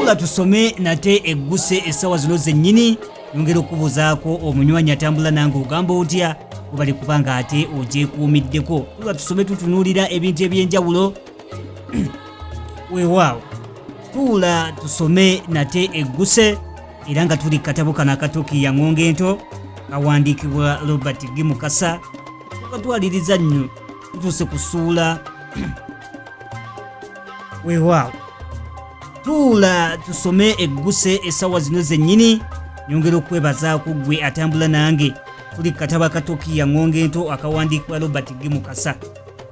nga tusome nate egguse essaawa zino zennyini yongera okubuuzaako omunywanyi atambula nange ogamba otya webali kuba nga ate ogyekuumiddeko nga tusome tutunuulira ebintu eby'enjawulo weewaawo tuula tusome nate egguse era nga tuli katabo kano akatuukiya ng'onga ento kawandiikibwa robert gimukasa wakatwaliriza nnyo tutuuse kusuula weewaawo tuula tusome egguse essaawa zino zennyini nyongera okwebazaako ggwe atambula nange tuli kataba katokiya ŋŋonga ento akawandiikibwa robert g mukasa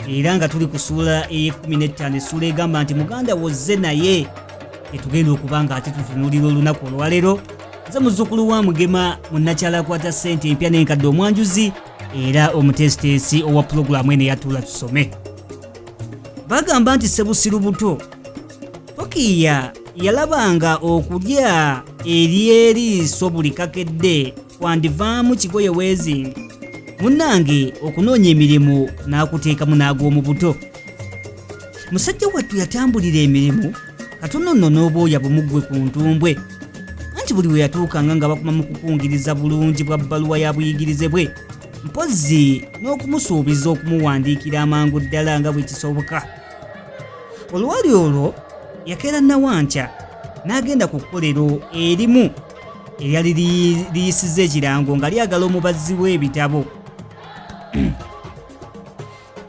era nga tuli ku suula ey'ekumi n'ettaano essuula egamba nti muganda wozze naye etugenda okuba nga ate tutunuulira olunaku olwaleero nze muzzukulu wa mugema munnakyala akwata ssente empya n'enkadde omwanjuzi era omuteesiteesi owa pulogulaamu eno eyatuula tusome bagamba nti sebusiru buto tokiya yalabanga okulya eryeriiso buli kakedde kwandivaamu kigoye weezingi munnange okunoonya emirimu n'akuteekamu n'ag'omu buto musajja wattu yatambulira emirimu katono nno n'obwoya bumuggwe ku ntumbwe anti buli we yatuukanga nga bakuma mu kukungiriza bulungi bwa bbaluwa ya buyigirize bwe mpozzi n'okumusuubiza okumuwandiikira amangu ddala nga bwe kisoboka olwali olwo yakeera nawankya n'agenda ku kkolero erimu eryali liyisiza ekirango nga lyagala omubazzi w'ebitabo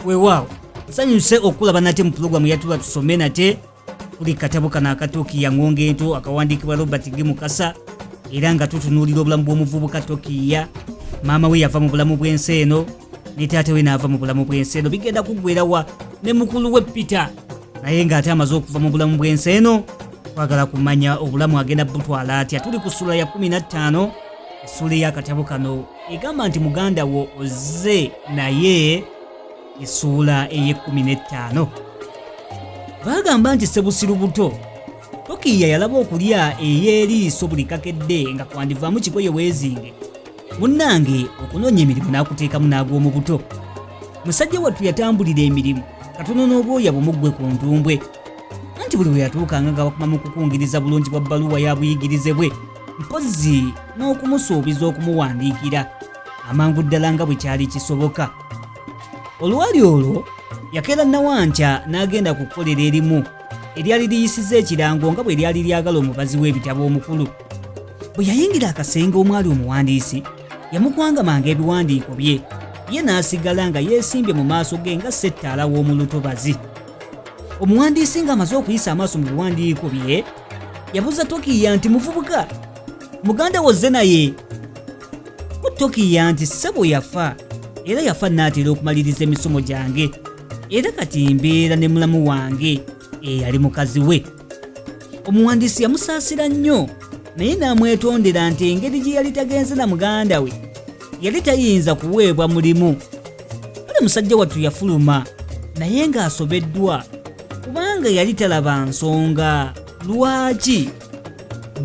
weewaawo nsanyuse okulaba nate mu pulogulaamu yatula tusome nate kuli katabo kano akatokiya ngonga ento akawandiikibwa robert g mukasa era nga tutunuulira obulamu bw'omuvubuka tokiya maama we yava mu bulamu bw'ensi eno ne taata we n'ava mu bulamu bw'ensi eno bigenda kuggwerawa ne mukulu we peter naye ng'ate amaze okuva mu bulamu bw'ensi eno twagala kumanya obulamu agenda butwala atya tuli ku ssula ya 15 essuula ey'akatabo kano egamba nti muganda wo ozze naye esuula ey'ekkumi n'ettaano baagamba nti sebusiru buto tokiya yalaba okulya ey'eriiso buli kakedde nga kwandivaamu kigoye weezinge munnange okunoonya emirimu n'akuteekamu n'ag'omu buto musajja wattu yatambulira emirimu katono n'obwoya bumuggwe ku ntumbwe anti buli bwe yatuukanga nga bakuma mu kukungiriza bulungi bwa bbaluwa ya buyigirize bwe mpozzi n'okumusuubiza okumuwandiikira amangu ddala nga bwe kyali kisoboka olwali olwo yakeera nawankya n'agenda ku kukolera erimu eryali liyisiza ekirango nga bwe lyali lyagala omubazi w'ebitabo omukulu bwe yayingira akasenge omwali omuwandiisi yamukwangamanga ebiwandiiko bye ye n'asigala nga yeesimbye mu maaso ge nga settaala w'omu lutobazi omuwandiisi ng'amaze okuyisa amaaso mu biwandiiko bye yabuuza tokiya nti muvubuka muganda wozze naye ku tokiya nti ssebo yafa era yafa naatera okumaliriza emisomo gyange era kati mbeera ne mulamu wange eyali mukazi we omuwandiisi yamusaasira nnyo naye n'amwetondera nti engeri gye yali tagenze na muganda we yali tayinza kuweebwa mulimu kale musajja wattu yafuluma naye ng'asobeddwa kubanga yali talaba nsonga lwaki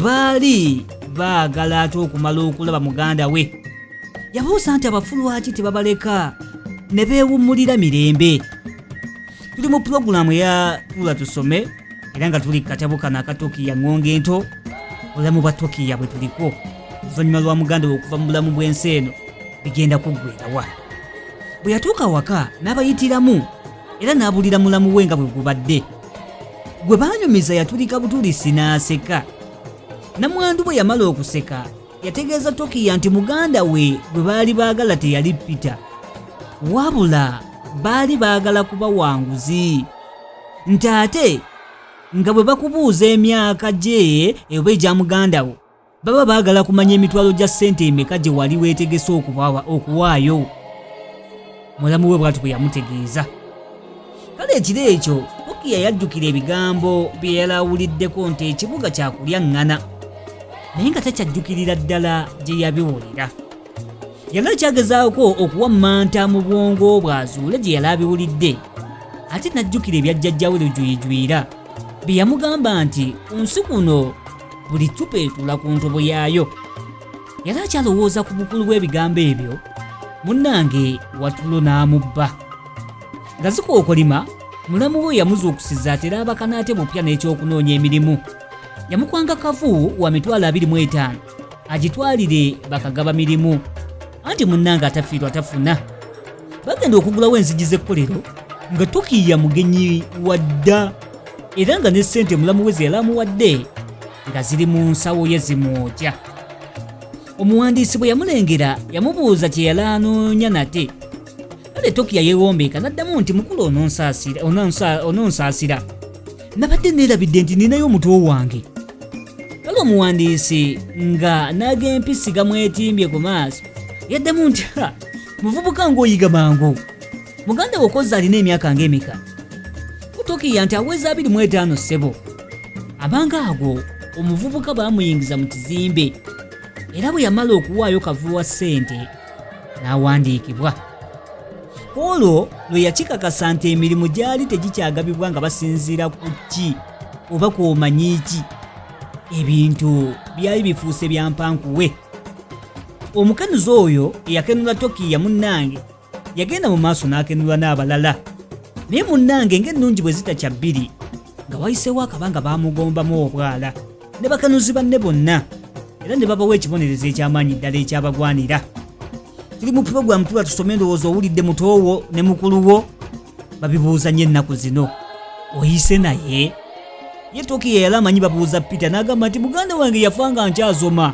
baali baagala ate okumala okulaba muganda we yabuusa nti abafu lwaki tebabaleka ne beewummulira mirembe tuli mu pulogulaamu eya tula tusome era nga tuli katabo kano akatokiya ŋŋonga ento obulamu bwa tokiya bwe tuliko oluvannyuma lwa muganda we okuva mu bulamu bw'ensi eno bigenda kuggwerawa bwe yatuuka awaka n'abayitiramu era n'abulira mulamu we nga bwe gubadde gwe baanyumiza yatulika butulisi n'aseka namwandu bwe yamala okuseka yategeeza tokiya nti muganda we gwe baali baagala teyali peter wabula baali baagala kuba wanguzi nti ate nga bwe bakubuuza emyaka gye eba egya muganda wo baba baagala kumanya emitwalo gya ssente emeka gye wali weetegese okubawa okuwaayo mulamu we bwatu bwe yamutegeeza kale ekiro ekyo kokiya yajjukira ebigambo bye yali awuliddeko nti ekibuga kyakulya ŋŋana naye nga takyajjukirira ddala gye yabiwulira yali akyagezaako okuwa manta mu bwongo bwe azuule gye yali abiwulidde ate n'ajjukira ebya jjajjawe lujuyijwira bye yamugamba nti ku nsi kuno buli cupa etuula ku ntobo yaayo yali akyalowooza ku bukulu bw'ebigambo ebyo munnange watulo n'amubba nga zikookolima mulamu we yamuzuukusiza atera abakanaate bupya n'ekyokunoonya emirimu yamukwanga kavu wa mitwalo abiri mu etaano agitwalire bakagaba mirimu anti munnange atafiirwa tafuna bagenda okugulawo enzigi z'ekkolero nga tukiiya mugenyi wadda era nga ne ssente mulamu we zeyalamuwadde nga ziri mu nsawo ye zimwokya omuwandiisi bwe yamulengera yamubuuza kye yali anoonya nate kale tokiya yewombeeka n'addamu nti mukulu ononsaasira nabadde neerabidde nti ninayo omutwe wange kale omuwandiisi nga n'ag'empisi gamwetimbye ku maaso yaddemu nti muvubuka ng'oyiga mangu muganda we okozza alina emyaka ng'emeka mutukiya nti aweza abiri mu etaano ssebo abanga ago omuvubuka baamuyingiza mu kizimbe era bwe yamala okuwaayo kavuwa ssente n'awandiikibwa ku olwo lwe yakikakasa nti emirimu gyali tegikyagabibwa nga basinziira ku ki oba ku omanyi ki ebintu byali bifuuse bya mpankuwe omukenuzi oyo eyakenula tokiya munnange yagenda mu maaso n'akenula n'abalala naye munnange ng'ennungi bwe zitakya bbiri nga wayiseewo akabanga baamugombamu obwala ne bakanuzi banne bonna era ne babawa ekibonerezo eky'amaanyi ddala ekyabagwanira tuli mu pulogulaamu tuba tusoma endowooza owulidde mutoowo ne mukulu wo babibuuza nnyo ennaku zino oyise naye ye tokiya yali amanyi babuuza peter n'agamba nti muganda wange yafa nga nkyazoma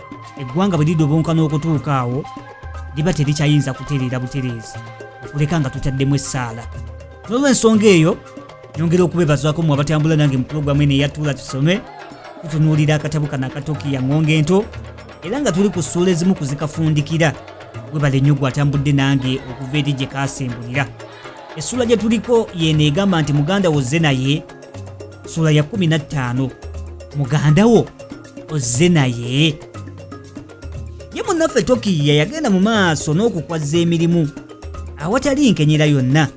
eggwanga bwe lidobonka n'okutuuka awo liba terikyayinza kutereera butereezi okuleka nga tutaddemu essaala n'olwensonga eyo nyongera okubebazwako mu abatambula nange mu pulogulaamu eno eyatuula tusome tutunuulira akatabu kano akatokiya ng'onga ento era nga tuli ku ssuula ezimu kuzikafundikira webale nnyo gwe atambudde nange okuva eri gye kaasembulira essuula gye tuliko yeeno egamba nti muganda wozze naye sula ya 15 muganda wo ozze naye ye munnaffe tokiya yagenda mu maaso n'okukwazza emirimu awatali nkenyera yonna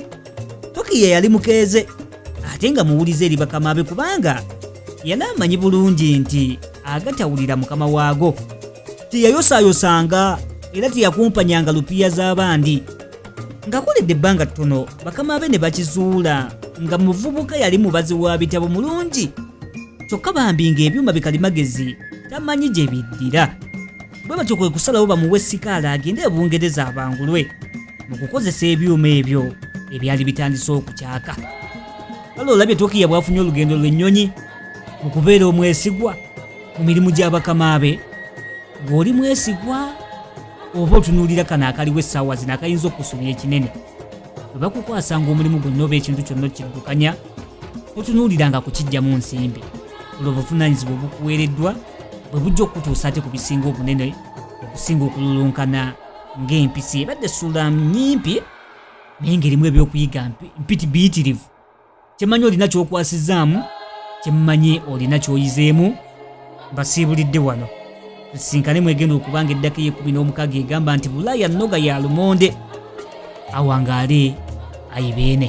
tokiya yali mukeeze ate nga muwulize eri bakama be kubanga yali amanyi bulungi nti agatawulira mukama waago teyayosaayosanga era teyakumpanyanga lupiya z'abandi nga kulidde ebbanga ttono bakama be ne bakizuula nga muvubuka yali mubazi wa bitabo mulungi kyokka bambi ng'ebyuma bikalimagezi tamanyi gye biddira bwe batyo kwe kusalawo bamuwe sikaala agende e bungereza abangulwe mu kukozesa ebyuma ebyo ebyali bitandise okukyaka kale olabye tokiya bwafunye olugendo lw'ennyonyi mu kubeera omwesigwa mu mirimu gy'abakama be ng'oli mwesigwa oba otunuulira kano akaliwo essaawa zino akayinza okusumya ekinene bwe bakukwasanga omulimu gwonna oba ekintu kyonna okiddukanya totunuuliranga kukijjamu nsimbi olwo obuvunaanyizibwa obukuweereddwa bwe bujja okukutuusa ate ku bisinga obunene okusinga okululunkana ng'empisi ebadde suula nyimpi naye ng'erimu ebyokuyiga mpiti biyitirivu kyemanyi olina kyokwasizaamu kyemmanyi olina kyoyizeemu mbasiibulidde wano tusisinkane mwegenda okubanga eddaka eyekumi n'omukaga egamba nti bulaaya nnoga ya lumonde awangaale ayibeene